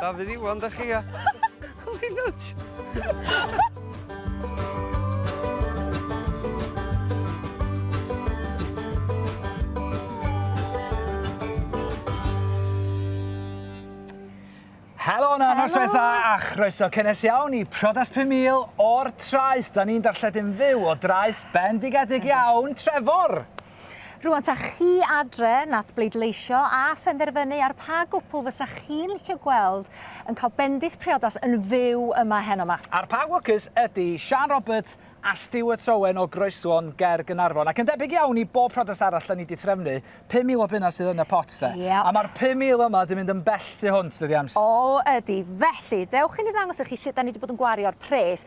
Dafydd Iwan, da chi a... Linwch! Helo na, nos fetha a chroeso cynnes iawn i Prodas 5000 o'r traeth. Da ni'n darlledu'n fyw o draeth bendigedig iawn, Trefor! Rŵan 'ta chi adre nath bleidleisio a phenderfynu ar pa gwpl fysa chi'n licio gweld yn cael bendith priodas yn fyw yma heno 'ma. A'r pa gwcys ydi Siân Roberts a Stuart Owen o Groeslon ger Gaernarfon. Ac yn debyg iawn i bob priodas arall 'da ni 'di threfnu, 5,000 o bunna sydd yn y pot 'de. Yep. A ma'r 5,000 yma 'di mynd yn bell tu hwnt dydi Ems? O ydi. Felly, dewch i ni ddangos i chi sut 'da ni 'di bod yn gwario'r pres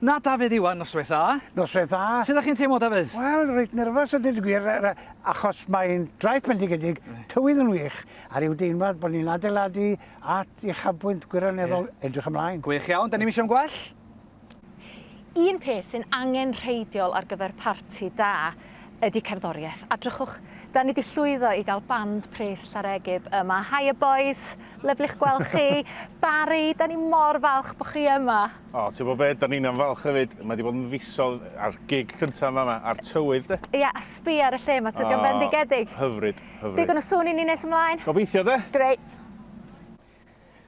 Na Dafydd Iwan, noswaith dda. Noswaith dda. Sut ydych chi'n teimlo Dafydd? Wel, reit nerfus a dweud y gwir, achos mae'n draeth bendigedig, tywydd yn wych, a rhyw deimlad bod ni'n adeiladu at uchafbwynt gwirioneddol yeah. edrych ymlaen. Gwych iawn, da ni'n eisiau am gwell? Un peth sy'n angen rheidiol ar gyfer parti da ydy cerddoriaeth. A drychwch, da ni wedi llwyddo i gael band pres Llaregib yma. Hiya boys, lyflich gweld chi. Barry, da ni mor falch bod chi yma. O, ti'n gwybod be, da ni'n am falch hefyd. Mae wedi bod yn fisol a'r gig cyntaf yn fan'na, a'r tywydd de. Ia, a sbia ar y lle ma, tydi o'n fendigedig. O, hyfryd, hyfryd. Digon o sŵn i ni nes ymlaen. Gobeithio de. Grêt.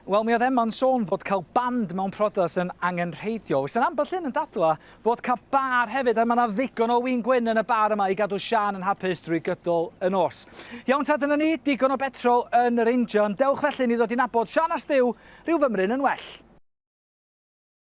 Wel, mi oedd Emma'n sôn fod cael band mewn priodas yn angenrheidiol. Weithiau'n ambell un yn dadlau fod cael bar hefyd, a mae yna ddigon o win gwyn yn y bar yma i gadw Siân yn hapus drwy gydol y nos. Iawn ta, dyna ni, digon o betrol yn yr injan. Dewch felly i ni ddod i nabod Siân a Stiw, rhyw fymryn yn well.